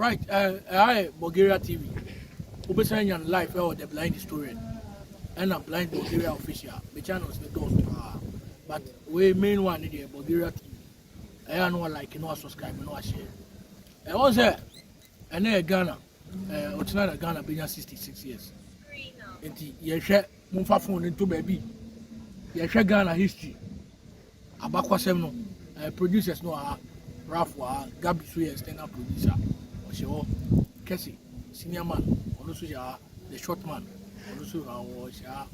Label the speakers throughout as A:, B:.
A: Right, ɛha eh, eh, yɛ eh, Bulgaria TV. Wobɛsan anya no live ɛwɔ The Blind Historian ɛna Blind Bulgaria Official. Me channels ne dɔɔso paa. But wei main one ne deɛ Bulgaria TV. Ɛyɛ ano like no subscribe no ahyɛ. Ɛwɔ sɛ ɛnɛ yɛ Ghana. Ɛɛ ɔkyena na Ghana bɛnya 66 years. Nti yɛhwɛ momfa phone no nto baabi. Yɛhwɛ Ghana history. Abakwasɛm no, eh, producers no wɔ ha, Ralph wɔ ha, Gabi so yɛ external producer, ɔhyɛ hɔ, Kɛse, senior man, ɔno nso hyɛ ha, the short man, ɔno nso ha, ɔhyɛ ha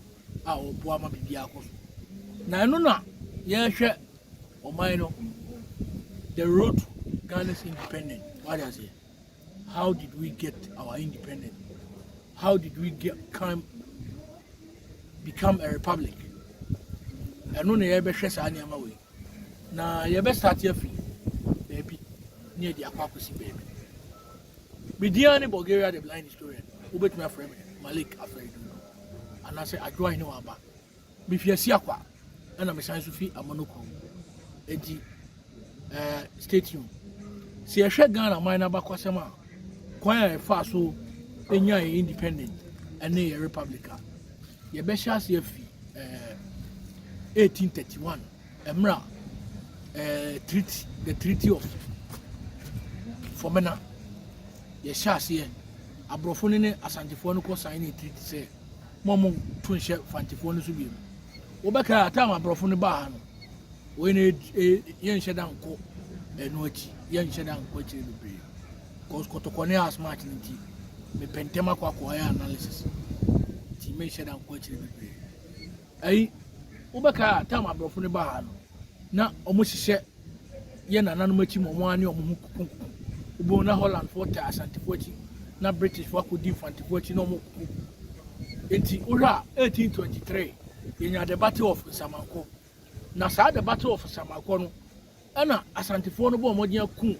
A: a ɔboa ma biribiara kɔ so. Na ɛno na yɛhwɛ ɔman no, the road to Ghana's independence, wade aseɛ. How did we get our independence? How did we get come become a republic? Ɛno na yɛbɛhwɛ saa nneɛma wei na yɛbɛsate afi baabi ne yɛde akɔ akɔsi baabi. Bedian ne Bulgaria the blind historian wobɛtumi afrɛ me Malik Afrɛdu anaasɛ Adwoa Hene Waba Mifi Asiakwa ɛna mesan nso fi Amono kurom. Enti ɛɛ eh, stay tuned. Sɛ yɛhwɛ Ghana man n'abakɔsɛm a kwan a yɛfaa so enya yɛ independent ɛne yɛ republic a yɛbɛhyɛ ase afi ɛɛ eh, 1831 ɛmmerɛ a ɛɛ eh, treaty the treaty of Fɔmena yɛhyɛ aseɛ aborɔfo no ne asantefoɔ no kɔ sign ne treaty sɛ Mo mo to nhyɛ fantifoɔ no so biem. Wo bɛ kra atam aborɔfo no baa ha no. Wei na yɛ nhyɛ da nkɔ ɛno akyi. Yɛ nhyɛ da nkɔ akyire bebree. Kɔs kɔtɔkɔ ne house match no nti. Me pɛntɛm akɔ akɔ ayɛ analysis. Nti me nhyɛ da nkɔ akyire bebree. Ɛyi, wobɛkae a time aborɔfo no ba ha no, na wɔhyehyɛ yɛ nananom akyi ma wɔn ane wɔn ho kukunkuku. Wobɛhu na Hollandfoɔ taa Asantefo akyi, na Britishfoɔ akɔdi Mfantefoɔ akyi na wɔkuku. Enti wohwɛ a 1823 yɛnya the Battle of Nsamanko. Na saa the Battle of Nsamanko no, Ɛna Asantefoɔ no bɔɔ mmɔden akum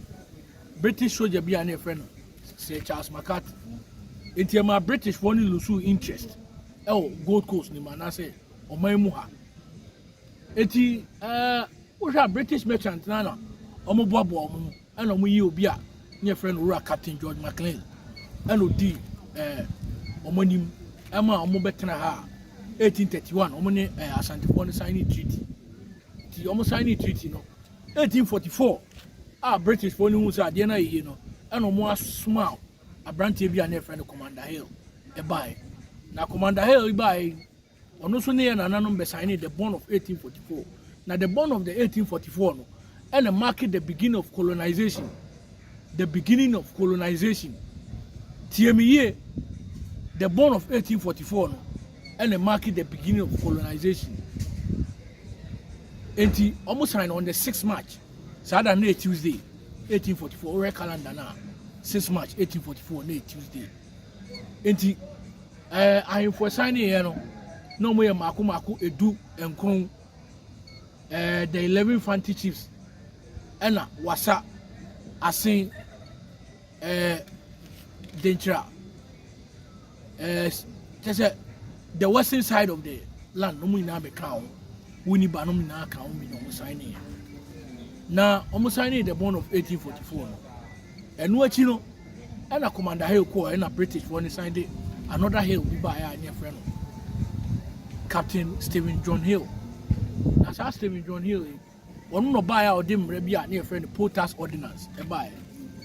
A: British soldier bi a na yɛfrɛ no Sir Charles McCarthy. Enti ɛmaa British foɔ no lusuu interest ɛwɔ Gold Coast no mu anaasɛ ɔman mu ha. Enti ɛɛ wohwɛ a British merchant na na wɔn boaboa wɔn ho ɛna wɔn yi obi a na yɛfrɛ no Owura Captain George McLean ɛna odi ɛɛ wɔn anim ɛma wɔn bɛtena ha a 1831 wɔn ne ɛɛ Asantefoɔ no sign treaty. nti wɔn signing treaty no. 1844 a British foɔ no hu sɛ adeɛ no ayɛ yie no ɛna wɔn asoma aberanteɛ bi a na yɛfrɛ no Commander Hill ɛbaeɛ na Commander Hill baeɛ ɔno nso ne yɛ nananom bɛ signing the bond of 1844 na the bond of the 1844 no ɛna mark the beginning of colonization the beginning of colonization tie me yie the bond of 1844 no ɛna mark the beginning of colonization eti wɔn sign on the six march saa da no yɛ tuesday eighteen forty four wɔhwɛ calendar na six march eighteen forty four na yɛ tuesday eti ɛɛ ahemfo sign ne yɛ no na wɔn yɛ mako mako edu nkron ɛɛ the eleven fanti chiefs ɛna wasa asen. Ɛɛ denkyira ɛɛ kyɛ sɛ the western side of the land no mu nyinaa bɛ kaa ho wo ni ba no mu nyinaa kaa ho bi na wɔn san ne yɛ na wɔn san ne the bond of 1844 no ɛno akyi no ɛna commander hill kɔɔ ɛna british wɔn ne san de another hill bi baa yɛ a nyɛ fɛ no captain stephen john hill na saa stephen john hill yi. Ɔno na ɔbaeɛ a ɔde mmara bi a ne yɛfrɛ no Potas Ordinance ɛbaeɛ.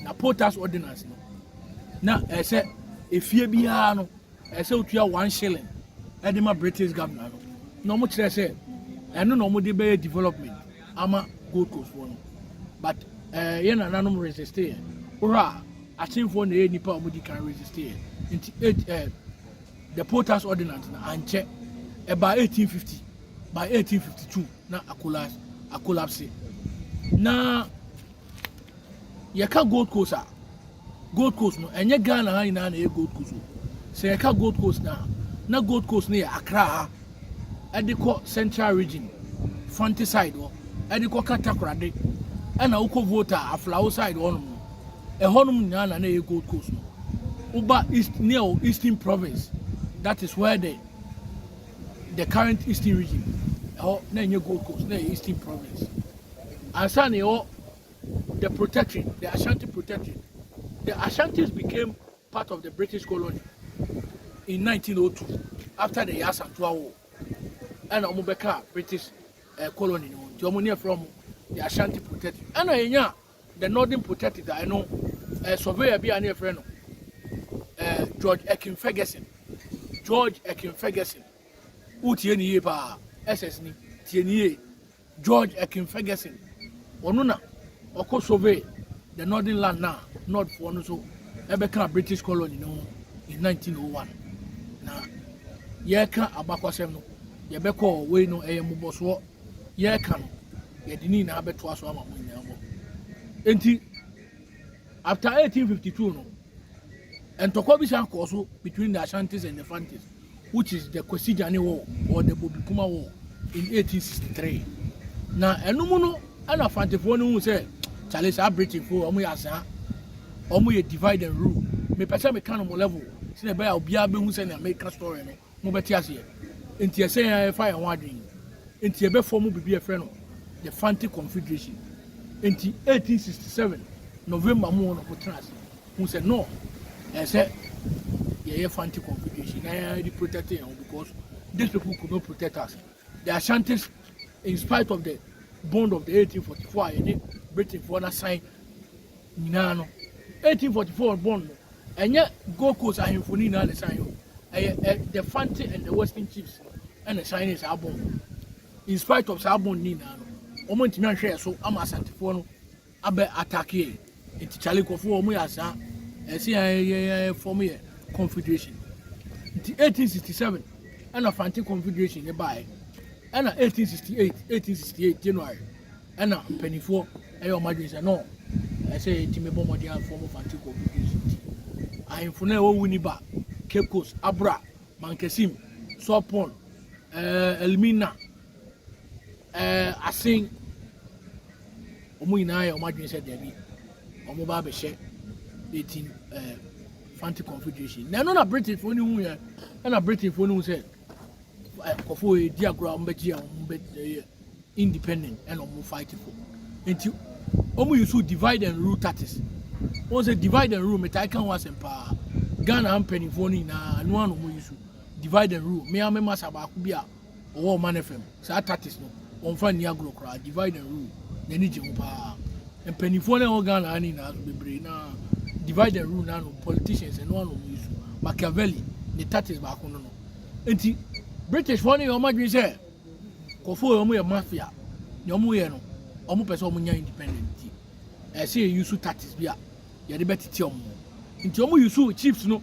A: Na Potas Ordinance no, na ɛsɛ efie biara no ɛsɛ wotua one shilling ɛde ma British governor no. Na wɔn kyerɛ sɛ ɛno na wɔn de bɛyɛ development ama Gold Coast foɔ no. But ɛɛ eh, yɛn nananom resiste yɛ. Wohwɛ a asenfoɔ na ɛyɛ nipa a wɔn di kan resiste yɛ. Nti ɛɛ eh, the Potas Ordinance na ankyɛ ɛbaa 1850 by 1852. na akolapse. Na yɛka Gold Coast a, Gold Coast no, ɛnyɛ Ghana ha nyinaa na ɛyɛ Gold Coast o. Sɛ yɛka Gold Coast no a, na Gold Coast no yɛ Accra ha, ɛde kɔ Central Region, Fante side hɔ, ɛde kɔ Katakorade, ɛna wokɔ Volta a, Aflao side hɔnom no. Ɛhɔnom nyinaa na na ɛyɛ Gold Coast no. Woba East, near Eastern Province, that is where the the current eastern region ɛhɔ na ɛnyɛ gold coast na ɛyɛ eastern province ansa na ɛwɔ the protectorate the ashanti protectorate the ashantis became part of the british colony in 1902 after the yasantua war ɛna wɔn bɛka british uh, colony no nti wɔn ne ɛfrɛ wɔn the ashanti protectorate ɛna yɛnya The Northern Protectorate a ɛno eh, surveyor bi a ne yɛfrɛ no eh, George Ekin Ferguson George Ekin Ferguson wotie ne yie paa SS ni tie ne yie George Ekin Ferguson ɔno na ɔkɔ survey the northern land na northfoɔ no so ɛbɛka British colony no ho in 1901 na yɛka abakwasɛm no yɛbɛkɔ wei no ɛyɛ mmobɔsoɔ yɛreka no, yɛde ne nyinaa bɛtoa so ama mo nyinaa mmɔ. Enti, after 1852 no, ntɔkwa bi san kɔɔ so between the Ashantis and the Fantis, which is the Kwasigyane War or the Bobikuma War in 1863. Na ɛno mu no, ɛna Fantifoɔ no hu sɛ, kyale saa Britainfoɔ wɔn yɛ asaa, wɔn yɛ divide and rule. Mepɛ sɛ meka no mo level, sɛ ɛbɛyɛ a obiara bɛhu sɛ nea meka story no mobɛte aseɛ. Enti ɛsɛ yɛn ara yɛfa yɛn ho adwene yi. Enti yɛbɛfɔɔmo biribi a yɛfrɛ no The Fante Confederation. Enti 1867 November mu hɔ na wɔtena ase hu sɛ no, ɛsɛ sɛ yɛyɛ Fante Confederation na yɛn ara yɛde protect yɛn ho because these people could not protect us. The Ashantis in spite of the bond of the 1844 a yɛne Britainfoɔ no asan nyinaa no 1844 bond no ɛnyɛ Gold Coast ahemfo no nyinaa na ɛsan yɛ o ɛyɛ the Fante and the Western chiefs no ɛna ɛsan ne saa bond in spite of saa bond no nyinaa no wɔn ntumi anhwɛ yɛ so ama Asantefoɔ no abɛ attack yɛn nti Charlie nkurɔfoɔ wɔn yɛ asaa ɛsɛ yɛn yɛn yɛn form yɛ confederation nti 1867 ɛna Fante confederation ne baeɛ ɛna 1868 1868 January ɛna mpanimfoɔ ɛyɛ wɔn adwene sɛ no ɛsɛ yɛtumi bɔ mmɔden afɔm Fante confederation nti ahemfo no a ɛwɔ wuni ba Cape Coast Abra Mankasim Sopon ɛɛ Elmina Ɛɛ asen? Wɔn nyinaa yɛ wɔn adwene sɛ daabi, wɔba abɛhyɛ eti ɛɛ Fanti Confederation. Na ɛno na Britainfoɔ no hu yɛ, ɛna Britainfoɔ no hu sɛ nkɔfoɔ yɛ di agorɔ a wɔn bɛgye a wɔn bɛ ɛyɛ independent ɛna wɔn fight for. Nti wɔn yi so divide and rule tactics. Wɔn sɛ divide and rule metaa ka ho asɛm paa. Ghana mpanimfoɔ no nyinaa ɛno ano wɔn yi so divide and rule. Mmea mema sa baako bi a Wɔwɔ Ɔman FM. Saa tactics no, wɔmfa nni agorɔ koraa. Divide and rule, n'ani gye ho paa. Mpanimfoɔ no a ɛwɔ Ghana ha no nyinaa nso, bebree no ara, divide and rule no ara na wɔn politicians, ɛno ara na wɔn use. Machiavelli, ne tactics baako no no. Enti, Britishfoɔ no yɛ wɔn adwene sɛ, nkurɔfoɔ wei, wɔyɛ mafia. Nea wɔyɛ no, wɔpɛ sɛ wɔnya independent nti, ɛsɛ yɛ use tactics bi a yɛde bɛtete wɔn. Nti, wɔuse chiefs no.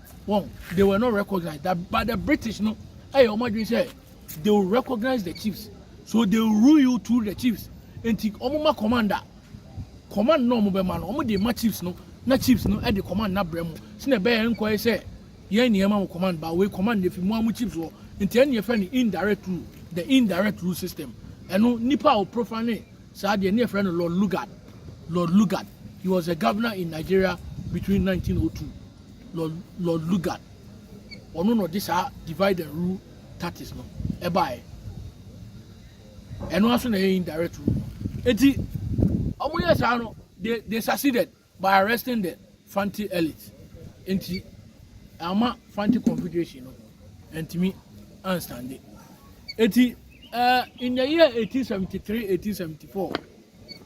A: Wɔn, they were not recognized. That, but the British no, ɛyɛ wɔn adwene sɛ they will recognize the chiefs, so they will rule you through the chiefs. Nti wɔn ma commander, command na wɔn bɛ ma no, wɔn de ma chiefs no, na chiefs no ɛde command na brɛ mu. Sina ɛbɛyɛ nkɔ yɛ sɛ yɛn ni ɛma mo command, ba wei command na efi mu amu chiefs wɔ. Nti ɛni ɛfɛ ni indirect rule, the indirect rule system. Ɛno nipa a ɔprofa ne saa deɛ ni ɛfɛ no Lord Lugard. Lord Lugard, he was a governor in Nigeria between 1902. Lord, Lord Lugard. Ɔno na ɔde saa divide and rule tactics no ɛbaeɛ. Ɛno aso na ɛyɛ indirect rule no. Eti, wɔn yɛ saa no, they, they succeeded by arresting the Fanti elite. Nti, ama Fanti Confederation no, ɛntumi anstande. Eti, uh, in the year 1873, 1874,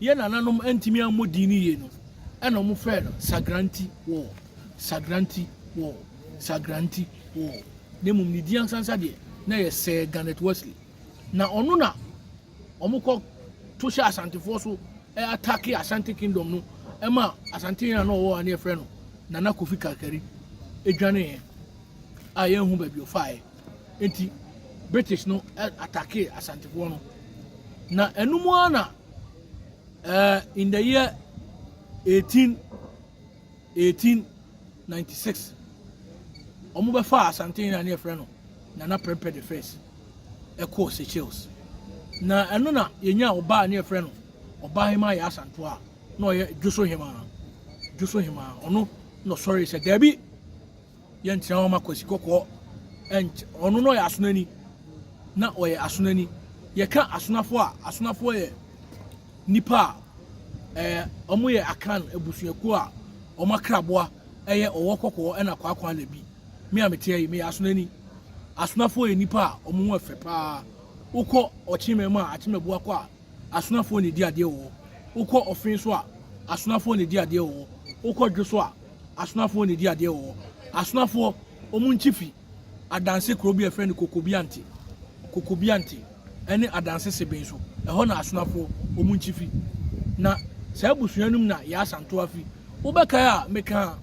A: Yɛn nananom antumi ammɔ din no yie no, ɛna wɔfrɛɛ no Sagranti Wall, Sagranti Wall, Sagranti Wall, na mmom ne din ansansa deɛ, na ɛyɛ Sir Garnet Wesley. Na ɔno na wɔkɔ to hyɛ Asantefoɔ so atake Asante Kingdom no ma Asante a na ɔwɔ a ne yɛfrɛ no Nana Kofi Kakari dwaneeɛ a yɛnhu baabi ɔfaeɛ. nti British no attackee Asantefoɔ no. Na ɛno mu ara na uh, in the year 18, 1896, wɔn bɛfa Asante na ne yɛfrɛ no Nana Prempeh the first ɛkɔɔ Seychelles. Na ɛno na yɛnya ɔbaa ne yɛfrɛ no ɔbaa hema yɛ Asanto a na ɔyɛ Dwoso hema Dwoso hema ɔno na ɔsɔre sɛ daabi Yɛnkyerɛ hɔ ma Kwasi Kɔkɔɔ nky ɔno na ɔyɛ asonani na ɔyɛ asonani. Yɛka asonafo a, asonafo yɛ nipa a ɛɛ wɔn yɛ akan abusuakuo a wɔn akraboa ɛyɛ ɔwɔ kɔkɔɔ ɛna kwaakwa na bi. Me a meteɛ yi meyɛ asonani. Asonafo yɛ nipa a wɔn ho ɛfɛ paa. Wokɔ ɔkyemɛ mu a akyemɛbu akɔ a asonafoɔ na ɛdi adeɛ wɔ hɔ, wokɔ ɔfe nso a, asonafoɔ na ɛdi adeɛ wɔ hɔ, wokɔ dwo so a, asonafoɔ na ɛdi adeɛ wɔ hɔ. Asonafoɔ, wɔn nkyi fi Adanse kuro bi a yɛfrɛ no Kokobiante, Kokobiante, ɛne Adanse Seben so, ɛhɔ na asonafoɔ, wɔn nkyi fi. Na saa abusua no mu na Yaa Santoa fi. Wobɛkae a mekaa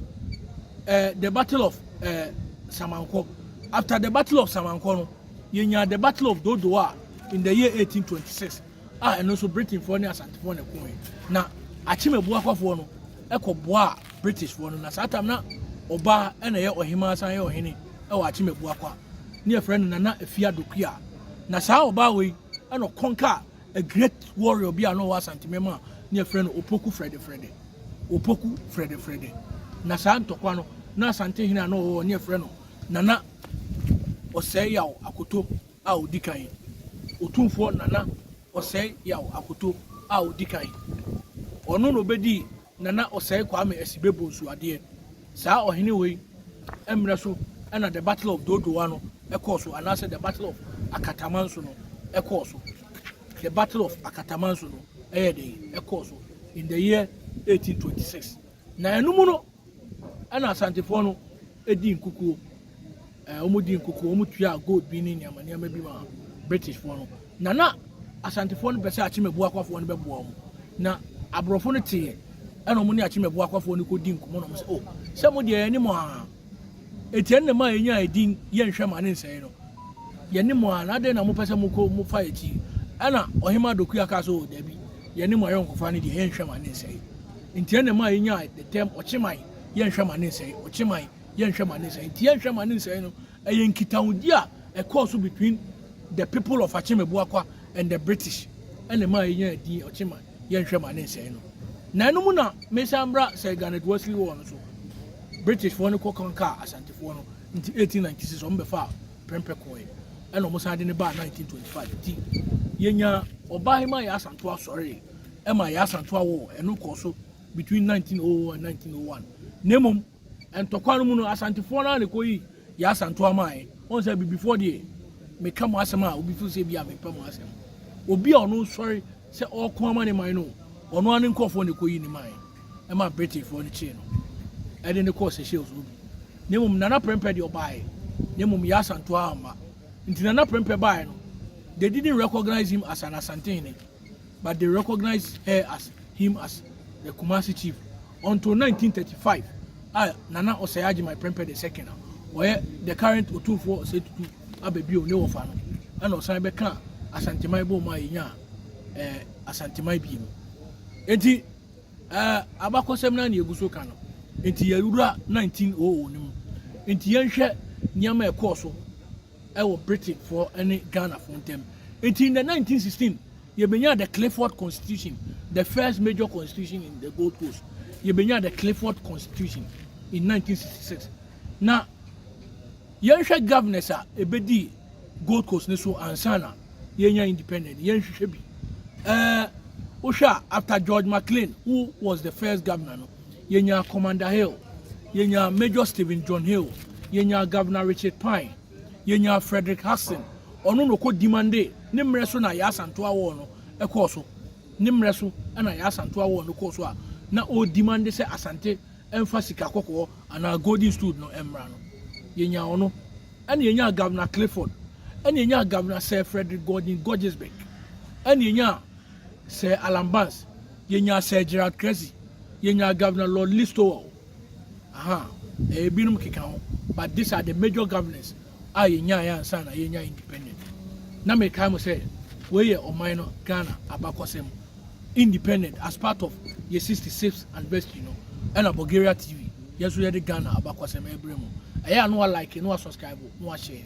A: eh, The Battle of eh, Samankɔ. After the Battle of Samankɔ no, Yɛnyaa The Battle of Dodo a in the year 1826 a ɛno nso Britainfoɔ ne Asantefoɔ na ɛkoe. Na Akyem Abuakwafoɔ no kɔboaa Britishfoɔ no na saa tam na ɔbaa na ɛyɛ ɔhemaa san yɛ ɔhene wɔ Akyem Abuakwa ne yɛfrɛ no Nana Afia Dokuya. Na saa ɔbaa wei na ɔkɔnkaa a great warrior bi a na ɔwɔ Asantemem a ne yɛfrɛ no Opoku Frɛdefrɛdɛ. Opoku Frɛdefrɛdɛ. Na saa ntɔkwa no na Asante hene a na ɔwɔ ne yɛfrɛ no Nana Ɔsɛe-Yaw Akoto a Odi Kan, Otumfoɔ Nana Ɔsɛe-Yaw Akoto a Odi Kan. Ɔno na obedii Nana Ɔsɛe Kwame Asibe Bonsu adeɛ. Saa ɔhene wei mmerɛ so na The Battle of Dodowa no kɔɔ so anaasɛ The Battle of Akatamanso no kɔɔ so. The Battle of Akatamanso no yɛ dɛn? Ɛkɔɔ so in the year 1826. Na ɛno mu no ɛna asantefoɔ no di nkukuo ɛɛ wɔn di nkukuo wɔn tua gold bi ne nneɛma nneɛma bi ma britishfoɔ no na na asantefoɔ no pɛ sɛ akyemabu akwafoɔ no bɛboa wɔn na aborɔfo no teɛ ɛna wɔn ne akyemabu akwafoɔ no kɔ di nkɔmɔ na wɔn sɛ o oh, sɛ mo deɛ ɛyɛ ne mo aa Enti ɛnna ɛmaa yenyaa edin Yɛnhwɛ Mma Ne Nsɛe no. Yɛne mo a, na adɛn na mopɛ sɛ mokɔ mo fa akyi? Ɛnna Ɔhemmaa Dokuya kaa sɛ, O, dabi, yɛne mo ayɔnkofa no deɛ, yɛnhwɛ mma ne nsɛe. Enti ɛnna ɛmaa yenyaa the term Ɔkyeman, Yɛnhwɛ Mma Ne Nsɛe, Ɔkyeman, Yɛnhwɛ Mma Ne Nsɛe. Enti Yɛnhwɛ Mma Ne Nsɛe no, ɛyɛ nkitahodi a ɛkɔɔ so between the people of Akyem-Abuakwa and the British, ɛnna ɛmaa yenyaa edin Ɔkyeman. yɛnhwɛ ma ne nsɛe no. Na ɛno mu na mesan bra Sir Garnet Worsley War no so. British foɔ no kɔ conquer Asante foɔ no nti 1896 ɔmo bɛfaa Prempeh kɔɔɛ ɛna ɔmo san de ne baa 1925 nti yɛnya Ɔbahema Yaa Asantoa sɔree ɛma Yaa Asantoa War ɛno kɔɔ so between 1900 and 1901 na mmom ntɔkwa no mu no Asantefoɔ no a na ɛkɔ yi Yaa Asantoa maaɛ wɔn sɛ bibifoɔ deɛ meka mo asɛm a obi fo sɛ bi a mempɛ mo asɛm obi a ɔno sɔre Sɛ ɔreko ama ne man no, ɔno ara ne nkurɔfoɔ na ɛkɔyii ne man ɛma Britainfoɔ no kyee no ɛde no kɔɔ Seychelles no bi. Na mmom Nana Prempeh deɛ ɔbaeɛ, na mmom Yaa Asantewaa amma. Nti Nana Prempeh baeɛ no, they didn't recognise him as an Asantehene, but they recognised her as him as the Kumasi chief until 1935 a Nana Osei Agyemang Prempeh the second a ɔyɛ the current Otumfoɔ Osei Tutu aba bio ne wɔfa no ɛna ɔsan bɛka Asanteman bɔɔ mu a yɛnya eh, Asanteman bio mu. Enti eh, abakɔsɛm no a na yɛgu so ka no, enti yɛwura 1900 no mu. Enti yɛnhwɛ nneɛma a ɛkɔɔ so wɔ Britainfoɔ ne Ghanafoɔ ntam. Nti in the 1916, yɛbɛnyaa the Clifford Constitution, the first major constitution in the Gold Coast. Yɛbɛnyaa the Clifford Constitution in 1966. Na yɛnhwɛ governors a ɛbɛdii Gold Coast ne so ansa na yɛnya independent, yɛnhwehwɛ bi. Uh, wohwɛ a after George McLean, who was the first governor no, yɛnyaa Commander Hill, yɛnyaa Major Stephen John Hill, yɛnyaa Governor Richard Pine, yɛnyaa Frederick Hudson, ɔno na ɔkɔ Dimande, ne mmerɛ so na Yaa Asantewaa War no kɔɔ so, ne mmerɛ so na Yaa Asantewaa War no kɔɔ so a na ɔredimande sɛ Asante mfa sika kɔkɔɔ anaa golden stood no mmra no, yɛnyaa ɔno, ɛna yɛnyaa Governor Clifford, ɛna yɛnyaa Governor Sir Frederick Gordon Gorgesbeck, ɛna yɛnyaa Sir Alan Banks. Yɛnyaa Sir Gerald Cressy, yɛnyaa Governor Lord Listowel, ahaa, ɛɛ, binom keka ho, but these are the major governors a yɛnyaeɛ ansa na yɛnya independent. Na mekae mo sɛ, wei yɛ ɔman no Ghana abakɔsɛm. Independent as part of yɛ 66th anniversary no, ɛna Bulgaria TV, yɛn nso yɛde Ghana abakɔsɛm ɛrebrɛ mo. Ɛyɛ a na wa like, na wa subscribe, na wa share.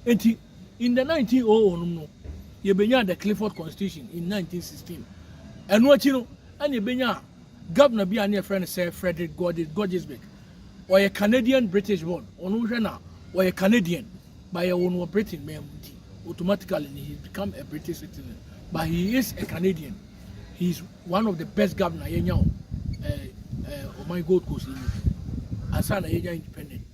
A: Enti, In the 1900 nom no, yɛbɛnyaa the Clifford Constitution in 1916. Ɛno akyi no, ɛna yɛbɛnyaa governor bi a na yɛfrɛ no Sir Frederick Gorges, Gorgesburg. Ɔyɛ Canadian British born, ɔno wohwɛ no a, ɔyɛ Canadian, but yɛwoo no wɔ Britain man mu nti, automatically no he has become a British citizen, but he is a Canadian. He is one of the best governor yɛnya wɔ eh, eh, ɔman Gold Coast yi mu, ansa na yɛnya independent.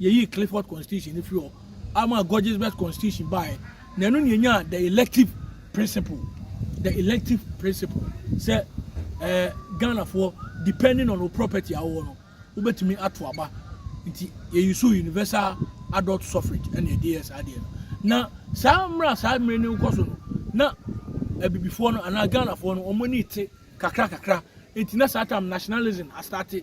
A: Yeyii Clifford Constitution no fii hɔ ama Godesberg Constitution baeɛ, na ɛno na yɛnyaa the elective principle, the elective principle sɛ eh, Ghanafoɔ depending on wo property a wowɔ no wobɛtumi ato aba nti yɛyi so universal adult suffrage ɛna ɛde yɛ saa deɛ no na saa mmerɛ saa mmerɛ no wokɔ so no na abibifoɔ no anaa Ghanafoɔ no wɔn ani te kakra kakra nti na saa tam nationalism astate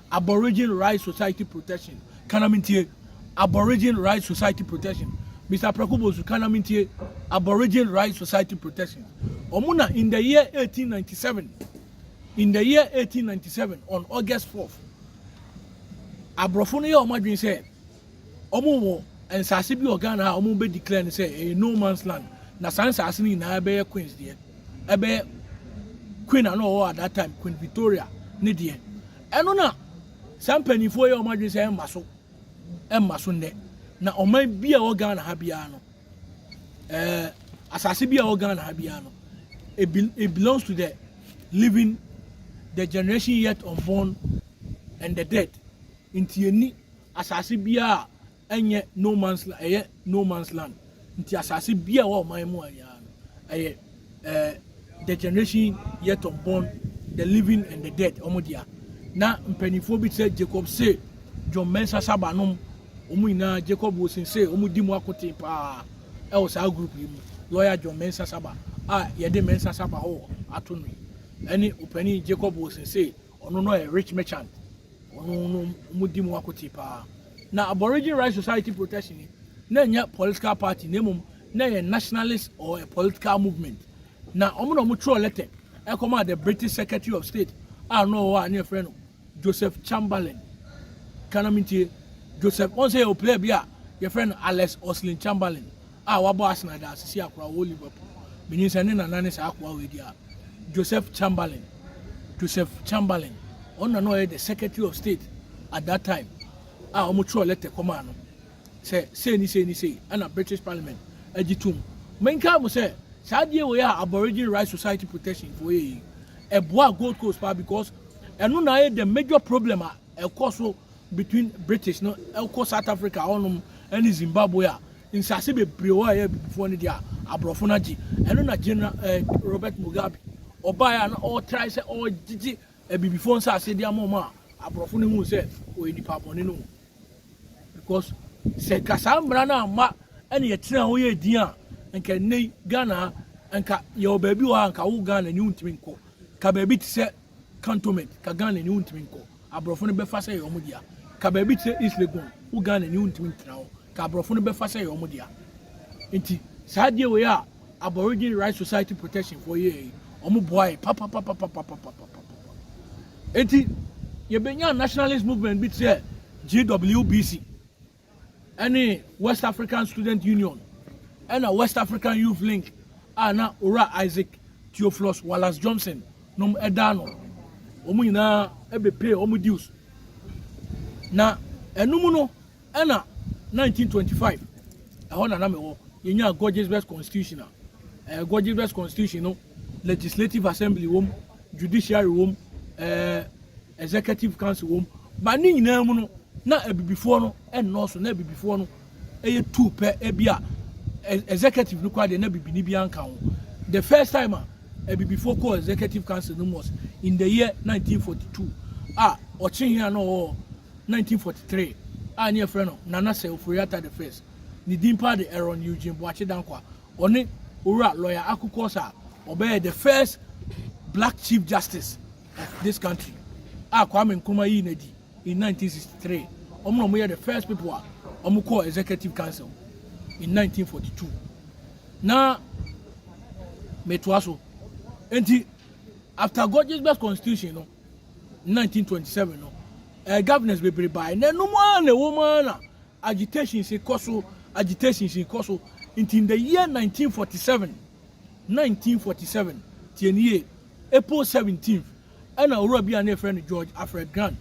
A: Aborigine Rights Society Protection, ka na mentie, Aborigine Rights Society Protection, Mister Prako Bosu, ka na mentie, Aborigine Rights Society Protection, wɔn na in the year 1897, in the year 1897, on August 4th, aborɔfo no yɛ wɔn adwene sɛ, wɔn wɔ nsaase bi wɔ Ghana a wɔn bɛ declare no sɛ ɛyɛ no man's land na saa nsaase no nyinaa ɛbɛyɛ Queen's deɛ ɛbɛyɛ Queen a na ɔwɔ at that time Queen Victoria ne deɛ ɛno na saa mpanyinfoɔ yɛ wɔn adwene sɛ ɛmma so ɛmma so nnɛ na ɔman bi a ɛwɔ Ghana ha biara no ɛɛ eh, asaase bi a ɛwɔ Ghana ha biara no it, be, it belongs to the living the generation yet unborn and the dead nti yɛni Asase biara a ɛnyɛ no man's land, ɛyɛ no man's land nti asase biara ɛwɔ ɔman mu anyaa no ɛyɛ eh, the generation yet unborn, the living and the dead wɔn dea. Na mpanimfoɔ bi te sɛ Jacob Say, John Mensah Saba nom, wɔn nyinaa Jacob Wilson Say, wɔn di mu akoten paa ɛwɔ saa group yi mu. Lawyer John Mensah Saba a yɛde Mensah Saba hɔ ato no yi ɛne opanin Jacob Wilson Say. ɔno no yɛ rich merchant ɔno no ɔmo di mu akote paa na aborigine right society protection ni na ɛnyɛ political party na mmom na ɛyɛ nationalist or a political movement na ɔmo na ɔmo twerɛ letter ɛkɔma the british secretary of state a na ɔwɔ a ne yɛfrɛ no joseph chamberlain kana mentie joseph wɔn sɛ yɛ ɔpilɛ bi a yɛfrɛ no alex oslin chamberlain a wabɔ Arsenal da asisi akoa wɔ Liverpool. Minim sɛ ne nana ne saa akoa wei di a, Joseph Chamberlain, Joseph Chamberlain. Ɔno na na ɔyɛ the Secretary of State at that time a wɔtwerɛɛ lɛtɛ kɔmaa no sɛ sei ne sei ne sei ɛna British Parliament agye tom. Menkae mo sɛ saa adeɛ wei a Aborigine Rights Society Protection foɔ yɛ yi, ɛboaa Gold Coast paa because ɛno na ayɛ the major problem a ɛkɔ so between British no kɔ South Africa hɔ nom ne Zimbabwe a, nsase bebree hɔ a ɛyɛ abibifoɔ no deɛ a, aborɔfo no agye. Ɛno na General eh, Robert Mugabe ɔbaeɛ a na ɔretrae sɛ ɔregyegye abibifoɔ nsase de ama wɔn a aborɔfo no hu sɛ ɔyɛ nipa bɔne no ho. Because sɛ nka saa mmara no amma ɛne yɛtena hɔ yɛ din a, nka nnɛ yi Ghana nka yɛwɔ baabi wɔ ha nka wo Ghana ni wontumi nkɔ. Nka baabi te sɛ cantonment ka Ghana ni wontumi nkɔ, aborɔfo no bɛfa sɛ ɛyɛ wɔn dea. Ka baabi te sɛ East Legon, wo Ghana ni wontumi ntena hɔ, ka aborɔfo no bɛfa sɛ ɛyɛ wɔn dea. Nti saa adeɛ wei a Aborigine Rights Society Protection foɔ yɛɛ yi, wɔn boae papapapapapapapapa. Nti yɛbɛnya nationalist movement bi te sɛ GWBC. ne West African Student Union na West African Youth Link a na Owura Isaac Theophilus Wallace Johnson nom da ano. Wɔn nyinaa bɛpee wɔn dues. Na ɛno mu no ɛna 1925 ɛhɔ na na mewɔ yɛnyaa Gorgeous West Constitution a ɛɛ Gorgeous West Constitution no legislative assembly wɔm judiciary wɔm ɛɛ. Executive Council wom, but ne nyinaa mu no, na Abibifoɔ no nnɔɔso, na Abibifoɔ no yɛ two pɛ, ebi a Executive no koraa deɛ na Bibini biara nka ho. The first time a Abibifoɔ kɔɔ Executive Council no mu was in the year 1942 a ɔkyehe a na ɔwɔ 1943 a ne yɛfrɛ no Nana Sir Ofori Atta the first, ne din paa de Aaron Eugene Boakye Dankwah, ɔne Owura Lawyer Aku Quorsa a ɔbɛyɛɛ the first Black Chief Justice this country a Kwame Nkrumah yii no adi in 1963, wɔn na wɔyɛ the first people a wɔkɔɔ executive council in 1942. Na metoa so. Enti, after Gorgeous constitution no, 1927 no, eh, governors bebree bae. Na ɛnom ara na ɛwɔ mu ara na agitations kɔ so, agitations kɔ so. Nti, in the year 1947, Nineteen forty seven, Tie no yie, April seventeenth, ɛna Owura bi a na yɛfrɛ no George Alfred Grant.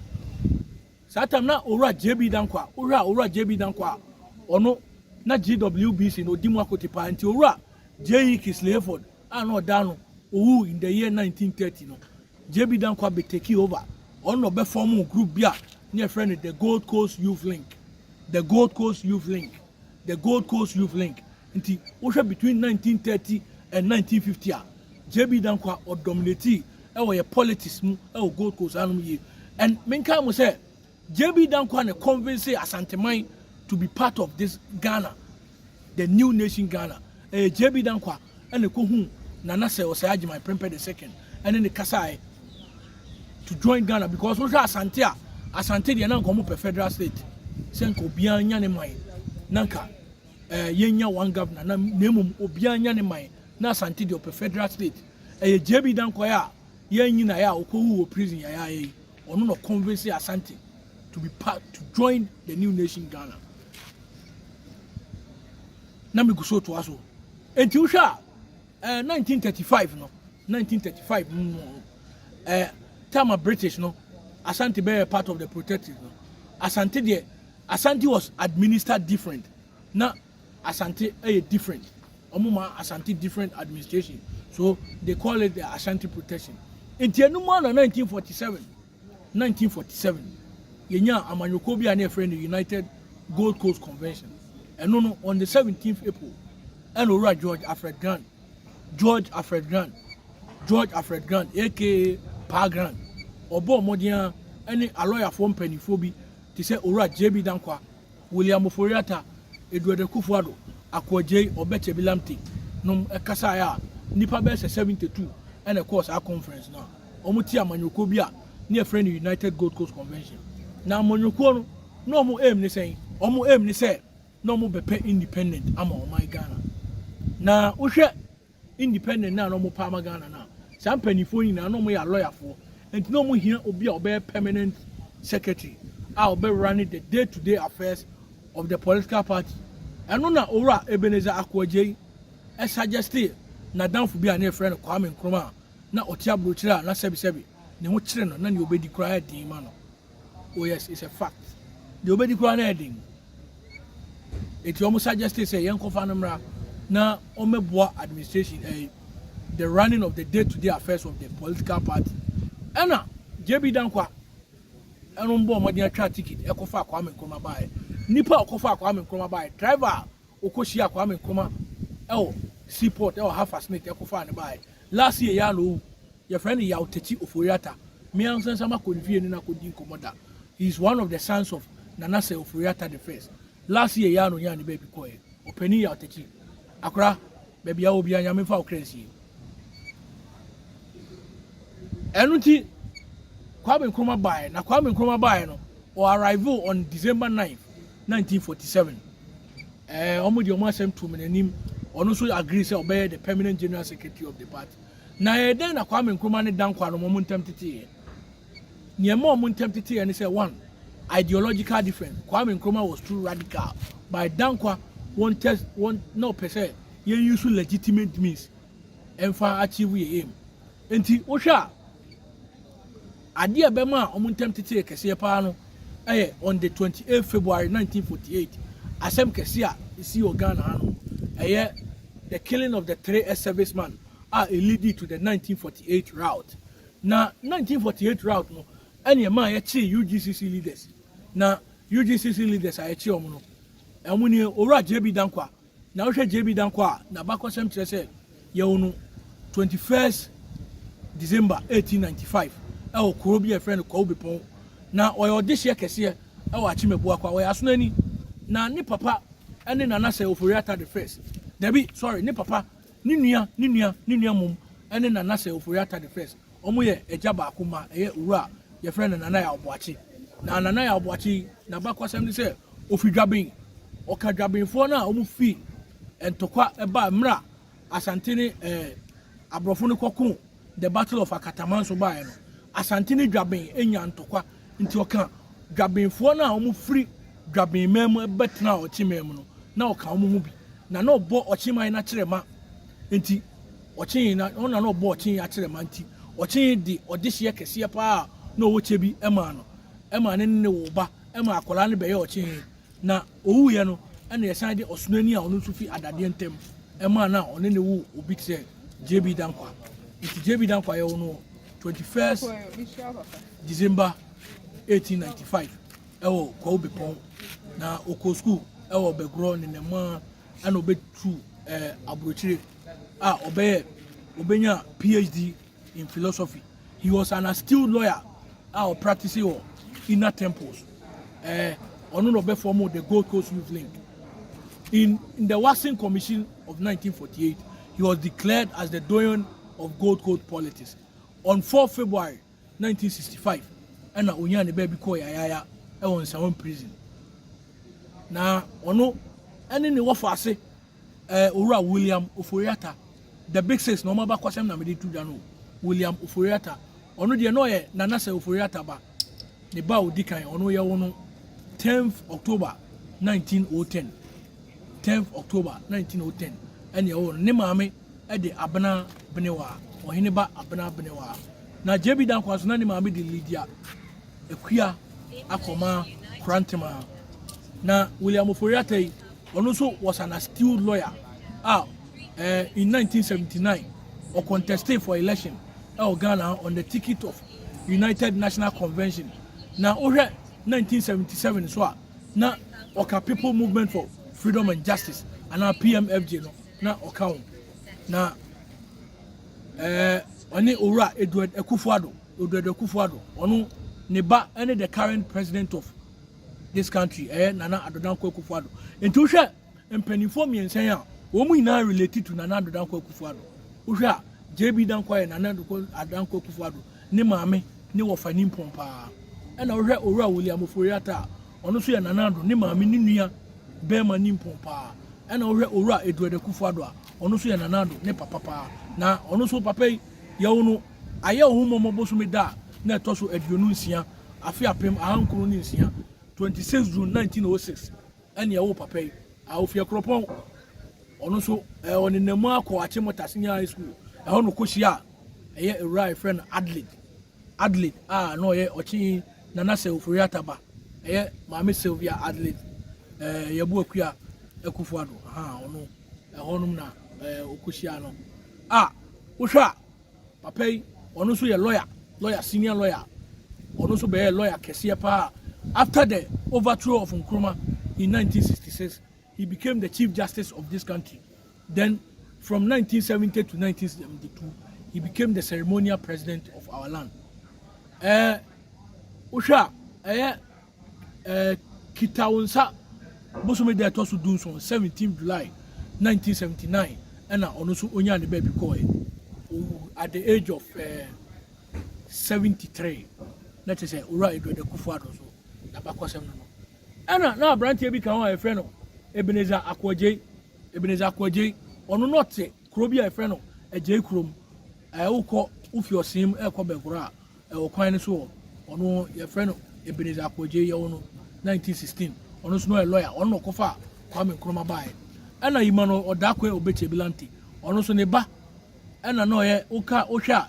A: Saa time na Owura JB Dankwah, wohwɛ a Owura JB Dankwah a, ɔno na GWBC no ɔdi mu akote paa. Nti Owura JE. Kingsley Hayford a na ɔda ano, ɔwuu in the year nineteen thirty no, JB Dankwah bɛ takee over. Ɔno na ɔbɛ fɔɔmoo group bi a na yɛfrɛ no The Gold Coast Youth Link, The Gold Coast Youth Link, The Gold Coast Youth Link. Nti wohwɛ between nineteen thirty and nineteen fifty a JB Dankwah ɔ dominate wɔ yɛ politics mu wɔ Gold Coast ha nom yie and menkae mo sɛ JB Dankwah na convince Asanteman to be part of this Ghana the new nation Ghana ɛyɛ JB Dankwah ɛna ɛkɔ hu Nana sɛ ɔsɛ Agyeman Prempeh the second ɛne ne kasaɛ to join Ghana because wohwɛ Asante a Asante deɛ na nka ɔmo pɛ federal state sɛ nka obiara nya ne man na nka ɛɛ yɛnya one governor na na mmom obiara nya ne man na asante deɛ ɔpɛ federal state ɛyɛ JB Dankwaeɛ a yɛn nyinaeɛ a ɔkɔwu wɔ prison yɛayɛ yi ɔno na convince asante to be part to join the new nation Ghana na megu so toa so enti wohwɛ a ɛɛ 1935 no 1935 mu no ɛɛ tama British no asante bɛyɛ part of the protective no asante deɛ Asante was administered different na Asante yɛ different ɔmo ma Asante different administration so they call it the Ashanti protection nti ɛno mu a na 1947 1947 yɛnyaa amanyɔkuo bi a na yɛfrɛ no United Gold Coast Convention ɛno no on the 17th April ɛna owura George Alfred Grant George Alfred Grant George Alfred Grant aka Paa Grant ɔbɔɔ mmɔden a ɛne alɔyafoɔ mpanimfoɔ bi te sɛ Owura JB Dankwah, William Ofori Atta, Edward Akufo Addo, Ako Adjei, Obed Tebi Lamptey nom kasaeɛ a nnipa bɛyɛ sɛ 72 na ɛkɔɔ saa conference no a wɔte amanyɔkuo bi a na yɛfrɛ no United Gold Coast Convention. Na amanyɔkuo no na wɔn aim ne sɛn? Wɔn aim ne sɛ na wɔbɛpɛ independent ama ɔman Ghana. Na wohwɛ independent no a na ɔmo pɛ ama Ghana no a, saa mpaninfoɔ yi nyinaa na ɔmo yɛ alɔyafoɔ, nti na ɔmo hia obi a ɔbɛyɛ permanent secretary a ɔbɛ runne the day to day affairs of the political party, ɛno na Owura Ebenezer Ako Adjei suggestee n'adamfo bi a na yɛfrɛ no Kwame Nkrumah a na ɔte abrokyire a na sɛbisɛbi ne ho kyere no na nea ɔbɛdi koraa yɛ den ma no. Oh yes, it's a fact. Deɛ obedi koraa na ɛden. Eti wɔn suggest sɛ yɛn kɔfa no mmra na wɔmmɛboa administration ɛyi eh, the running of the day-to-day affairs of the political party. Ɛna JB Dankwa ɛno mbɔ ɔmɔden atwa ticket ɛkɔfa Kwame Nkrumah baayɛ. Nipa a ɔkɔfa Kwame Nkrumah baayɛ, driver a Ɔkɔhyiaa Kwame Nkrumah wɔ sea port wɔ Hafast Nate kɔfaa no baeɛ. Last year yi ara na ɔwu. Yɛfrɛ no Yaw Tetteh Ofori-Atta. Me ankasa nso makɔ ne fie ne no akɔdi nkɔmmɔ da. He is one of the sons of Nana Sir Ofori-Atta the first. Last year yi ara na ɔnyaa ne baabi kɔeɛ. Ɔpanin Yaw Tetteh, akora, baabi a wɔ biara Nyame mfa wo kra nsie. Ɛno nti Kwame Nkrumah baeɛ. Na Kwame Nkrumah baeɛ no, ɔ arrivee on December 9th. nineteen forty seven ɛɛ wɔn de wɔn asɛm tuu mi n'anim ɔno nso agree sɛ ɔbɛyɛ the permanent general secretary of the party na ɛyɛ dɛn na kwame nkrumah ne dan kwano wɔn ntɛm teteeɛ nea ɛma wɔn ntɛm teteeɛ ne sɛ one ideological difference kwame nkrumah was too radical by dan kwa wɔn test wɔn na ɔpɛ sɛ yɛn use legitimate means ɛnfa achieve yɛ aim nti wohwɛ a Ade a ɛbɛmaa wɔn ntam tetee kɛseɛ paa no yɛ on the twenty eight February nineteen forty eight asɛm kɛseɛ a ɛsii wɔ Ghana hanom, ɛyɛ the killing of the three ex-serviceman a ɛleadi to the nineteen forty eight rout. Na nineteen forty eight rout no na ɛmaa yɛkyee UGCC leaders, na UGCC leaders a yɛkyee wɔn no, wɔn nie, Owura JB Dankwah, Na wohwɛ JB Danko a n'abakɔsɛm kyerɛ sɛ yɛwo no twenty first December eighteen ninety five ɛwɔ kuro bi a yɛfrɛ no Kwawu Bepɔn. Na ɔyɛ ɔdehyeɛ kɛseɛ ɛwɔ Akyem Abuakwa. Ɔyɛ Asonani. Na ne papa ɛne Nana Sir Ofori Atta the first. Dabi, sorry, ne papa, ne nua, ne nua, ne nua mmom ɛne Nana Sir Ofori Atta the first. wɔn yɛ agya baako ma ɛyɛ owura a yɛfrɛ no nana yaw boakye na nana yaw boakye yi n'abakwasɛm ne sɛ ofi dwaben ɔka dwabenfoɔ no a wɔn fi ntɔkwa ɛbaa mmerɛ a asante ne ɛɛ eh, aborɔfo no kɔko the battle of akataman so baeɛ no asante ne dwaben enya ntɔkwa nti ɔka dwabenfoɔ no a wɔn firi dwaben man mu ɛbɛtena ɔkye man mu no na ɔka wɔn ho bi na na ɔbɔ ɔkye man no akyerɛ ma nti Ɔkyee na ɔno na na ɔbɔ ɔkyee akyerɛma nti ɔkyee de ɔdehyeɛ kɛseɛ paa a na ɔwɔ kyɛ bi maa no ɛmaa ne ne woo ba ɛmaa akwadaa no bɛyɛ ɔkyee na ɔwuiɛ no ɛna yɛsan de ɔsonani a ɔno nso fi adadeɛ ntam ɛmaa no a ɔne ne woo obi kyerɛ JB Dankwa nti JB Dankwa yɛwo no 21st December 1895 ɛwɔ Kwawu Bepɔn na ɔkɔɔ sukuu ɛwɔ Bɛgorɔ ne Nɛmaa ɛna ɔbɛtu ɛɛ aburokyire a ɔbɛyɛ ɔbɛnya PhD in philosophy. He was an astute lawyer a ɔpractice wɔ inner temples. Eh, ɔno na ɔbɛfɔm the Gold Coast Youth Link. In, in the Watson Commission of 1948, he was declared as the doyen of Gold Coast politics. On 4 February 1965 ɛna onyaa ne baabi kɔɔ Yayaya ɛwɔ Nsawam Prison. Na ɔno ɛne ne wɔfo ase ɛɛ eh, Owura William Oforiata the big six na wɔn abakɔsɛm na mede to dwa no William Oforiata ɔno deɛ na ɔyɛ Nanasɛ Oforiata ba ne ba odi kan ɔno yɛwo no 10th October 1910. 10th October 1910 ɛne ɛwɔ no. Ne maame de Abena Benewa, ɔhene ba Abena Benewa. Na JB Dankwah so na ne maame de Lydia Akua akɔma Korantema. Na William Ofori Atai, ɔno nso was an astute lawyer a eh, in 1979 or contested for election ɛwɔ Ghana on the ticket of United National Convention. Na wohwɛ 1977 so a na ɔka People Movement for Freedom and Justice anaa PMFJ no na ɔka ho. Na ɛɛ eh, ɔne Owura Edward Akufo-Addo, Edward Akufo-Addo, ɔno ne ba ne the current president of this country ɛyɛ eh, Nana Addo Dankwa Akufo-Addo. Nti wohwɛ Mpaninfoɔ mmiɛnsa yi a wɔn nyinaa relate to Nana Addo Dankwa Akufo Addo. Wohwɛ a JB Dankwa yɛ Nana Addo Dankwa Akufo Addo ne maame ne wɔfa nimpɔn paa. Ɛna wohwɛ Owura William Ofori Atta a ɔno nso yɛ Nana Addo ne maame ne nua bɛɛma nimpɔn paa. Ɛna wohwɛ Owura Edward Akufo Addo a ɔno nso yɛ Nana Addo ne papa paa. Na ɔno nso papa yi yɛwo no ayɛ ohummɔmɔ bosome da a na ɛtɔ so aduonu nsia afe apem ahankron ne nsia 26 June 1906 ɛne ɛwo papa yi a ɔfiri Akuropɔn. Ɔno nso ɛɛ ɔnenam mu akɔ Achimota Senior High School. Ɛhɔ na ɔkɔhyia a ɛyɛ awura a yɛfrɛ no Adelaide. Adelaide a na ɔyɛ ɔkye Nana Sew Foriata ba. Ɛyɛ Maame Sylvia Adelaide ɛɛ Yɛbo Akua Akufo-Addo. Aha ɔno ɛhɔnom na ɛɛ ɔkɔhyia no. A wohwɛ a Papa yi ɔno nso yɛ lawyer, lawyer senior lawyer, ɔno nso bɛyɛ lawyer kɛseɛ paa. After the overthrow of Nkrumah in 1966, he became the chief justice of this country. Then from 1970 to 1972, he became the ceremonial president of our land. Eh, wohwɛ a, ɛyɛ eh, kita wo nsa bosome da ɛtɔ so dunson seventeen July nineteen seventy nine ɛna ɔno nso onyaa ne baabi kɔɛ owu at the age of eh, seventy three na kyerɛ sɛ owura Edward Akufo Addo nso n'abakɔsɛm no no ɛna na aberanteɛ bi ka ho a yɛfrɛ no Ebenezer Akoagyei Ebenezer Akoagyei ɔno na ɔte Kuro bi a yɛfrɛ no Agyei kurom, ɛɛ wokɔ wofi ɔsee mu ɛrekɔ bɛkora a ɛwɔ kwan no so hɔ ɔno yɛfrɛ no Ebenezer Akogyei yɛwo no 1916 ɔno nso no ɔyɛ lɔya ɔno na ɔkɔfa Kwame Nkrumah baeɛ ɛna yima no ɔdakwe obekye bilante ɔno nso ne ba ɛna na ɔyɛ woka wohwɛ a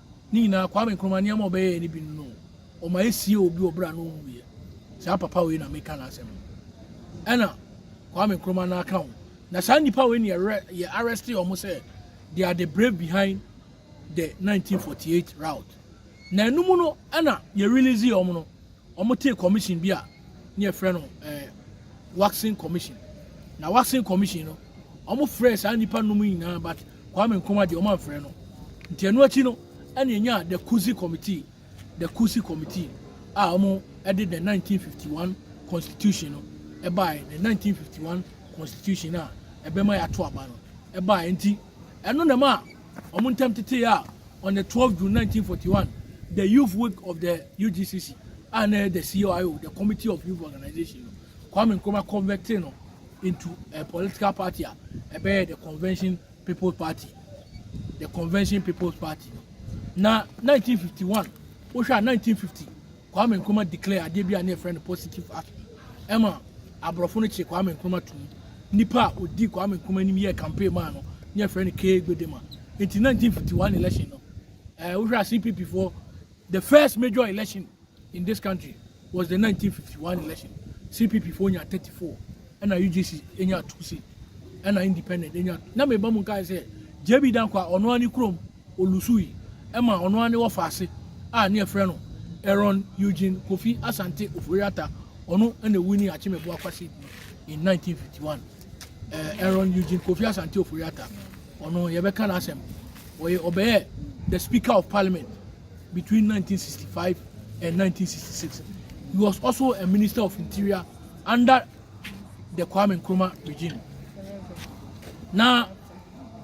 A: Ne nyinaa, Kwame Nkrumah nneɛma a ɔbɛyɛɛ no bi no, ɔma ɛsiee obi wɔ berɛ a na ɔnwuiɛ. Saa papa wei na meka n'asɛm no. Ɛna Kwame Nkrumah no aka ho. Na saa nnipa wei ne yɛ arrest wɔn sɛ they are the brave behind the 1948 route. Na ɛno mu no ɛna yɛ release wɔn no. Wɔtee commission bi a ne yɛfrɛ no eh, waxing commission. Na waxing commission no, wɔfrɛɛ saa nnipa nom nyinaa but Kwame Nkrumah deɛ wɔamfrɛ no. Nti ɛno akyi no, ɛne ɛnyaa the Kusi committee, the Kusi committee a wɔde the 1951 constitution no ɛbaeɛ, the 1951 constitution a ɛbɛma yɛato aba no ɛbaeɛ. Nti Ɛno na ɛmaa wɔn ntam tetee a on the 12 June 1941, the Youth Week of the UGCC, a na ɛyɛ the CYO, the Committee of Youth Organization no, Kwame Nkrumah converted no into a political party a ɛbɛyɛ the Convention People's Party. The Convention People's Party no. Na 1951, wohwɛ a 1950 Kwame Nkrumah declare adeɛ bi a ne yɛfrɛ no positive action ɛma aborɔfo no kye Kwame Nkrumah to mu nipa a odi Kwame Nkrumah anim yɛ campaign maa no ne yɛfrɛ no K Gbedema nti 1951 election no ɛɛ wohwɛ a CPP foɔ the first major election in this country was the 1951 election CPP foɔ nya 34 ɛna UGC nya 2 seat ɛna independent nya na meba mu nkae sɛ JB Dankwa ɔno ani kurom Olusui ma ɔno ara ne wɔfaase a ne yɛfrɛ no Aaron Eugene Kofi Asante Ofori-Atta, ɔno na ewini Akyemeboa Kwasi in 1951. Eh, Aaron Eugene Kofi Asante Ofori-Atta, ɔno yɛbɛka n'asɛm. Ɔyɛ ɔbɛyɛ the Speaker of Parliament between 1965 and 1966. He was also a Minister of Interior under the Kwame Nkrumah regime. Na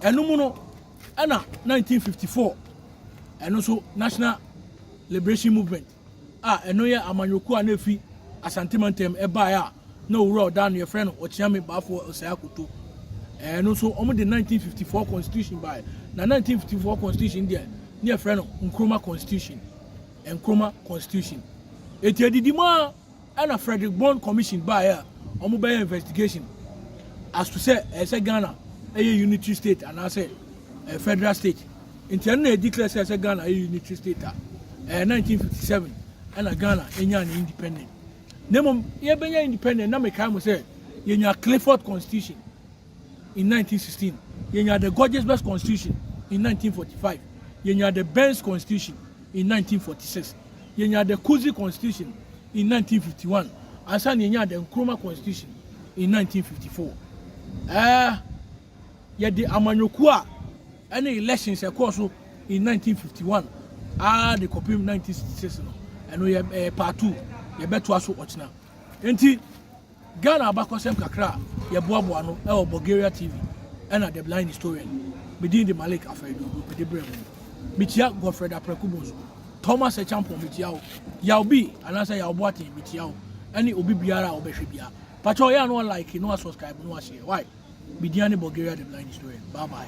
A: ɛno mu no, Ɛna nineteen fifty four ɛno nso National Liberation Movement a ɛno yɛ amanyɔkuo a na efi Asante mantam ɛbaeɛ a na owura ɔda ano yɛfrɛ no Ɔkyeame Baafoɔ Ɔsɛe Akoto. Ɛno nso wɔn de nineteen fifty four constitution baeɛ na nineteen fifty four constitution deɛ ne yɛfrɛ no Nkrumah constitution. Nkrumah constitution. Eti edidi mu a. Ɛna Fredrick Bond Commission baeɛ a wɔn bɛyɛ investigation as to sɛ ɛyɛ sɛ Ghana ɛyɛ unitary state anaasɛ ɛyɛ federal state. Nti ɛno na ɛdeclare sɛ ɛyɛ sɛ Ghana ɛyɛ unitary state a ɛyɛ 1957 ɛna Ghana ɛnyaa ne independent. Na mmom yɛbɛnya independent na mekae mo sɛ yɛnya Clifford Constitution. in nineteen sixteen, yenyaa the Gorges Best Constitution in nineteen forty five, yenyaa the Burns Constitution in nineteen forty six, yenyaa the Kudzii Constitution in nineteen fifty one, ansa na yenyaa the Nkrumah Constitution in nineteen fifty four. Ɛɛ, yɛde amanyɔkuo a ɛne elections ɛkɔɔ so in nineteen fifty one ara de kɔpem nineteen sixty six no, ɛno yɛ ɛyɛ part two, yɛbɛtoa so ɔkyena. Nti. Ghana abakɔsɛm kakra a yɛboaboa ano wɔ Bulgaria TV ɛna The Blind Historian. Me din de Malik Afrɛ-Aduogo, mede brɛ mo. Mekyia Godfred Apraku Bonsu, Thomas Acheampong mekyia wo, Yaw Bee anaasɛ Yaw Boateng mekyia wo, ɛne obi biara a ɔbɛhwɛ biara. Pakyɛw yɛ a na wa like na wa subscribe na wa share why? Me din ane Bulgaria The Blind Historian. Bye bye.